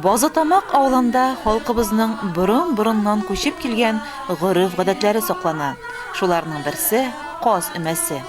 Базытамак авылында халкыбызның борын-борыннан күчеп килгән гореф-гадәтләре саклана. Шуларның берсе, каз өмәсе.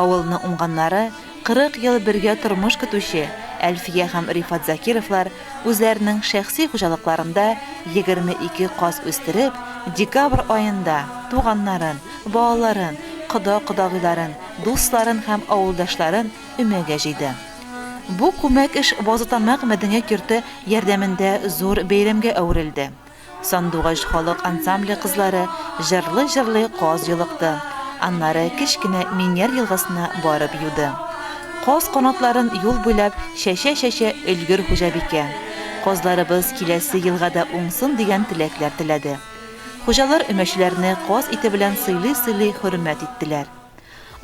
Авылны уңганнары, 40 ел бергә тормыш көтүче Әлфия һәм Рифат Закировлар үзләренең шәхси хуҗалыкларында 22 каз үстереп, декабрь аенда туганнарын, балаларын, кода-кодагыйларын, дусларын һәм авылдашларын өмәгә җыйды. Бу күмәк эш Базытамак мәдәният йорты ярдәмендә зур бәйрәмгә әверелде. Сандугач халык ансамбле кызлары җырлый-җырлый каз йолыкты, аннары кечкенә Миньяр елгасына барып юды. Каз канатларын юл буйлап чәчә-чәчә өлгер хуҗабикә. Казларыбыз киләсе елга да уңсын дигән теләкләр теләде. Хуҗалар өмәчеләрне каз ите белән сыйлый-сыйлый хөрмәт иттеләр.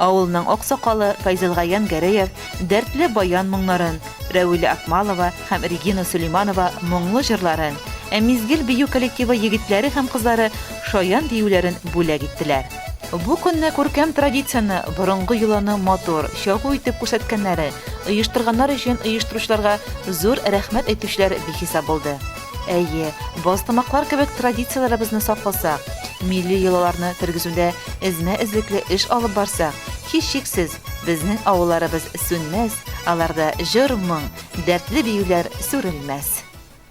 Авылның аксакалы Файзелгаян Гәрәев дәртле баян моңнарын, Рәвилә Акмалова һәм Регина Сөләйманова моңлы җырларын, ә Мизгел бию коллективы егетләре һәм кызлары шаян биюләрен бүләк иттеләр. Бу көнне күркәм традицияне, борынгы йоланы матур, чагу итеп күрсәткәннәре, оештырганнар өчен оештыручыларга зур рәхмәт әйтүчеләр бихисап булды. Әйе, базтамаклар кебек традицияләребезне сакласак, милли йолаларны тергезүдә эзмә-эзлекле эш алып барсак, һичшиксез, безнең авылларыбыз сүнмәс, аларда җыр-моң, дәртле биюләр сүрелмәс.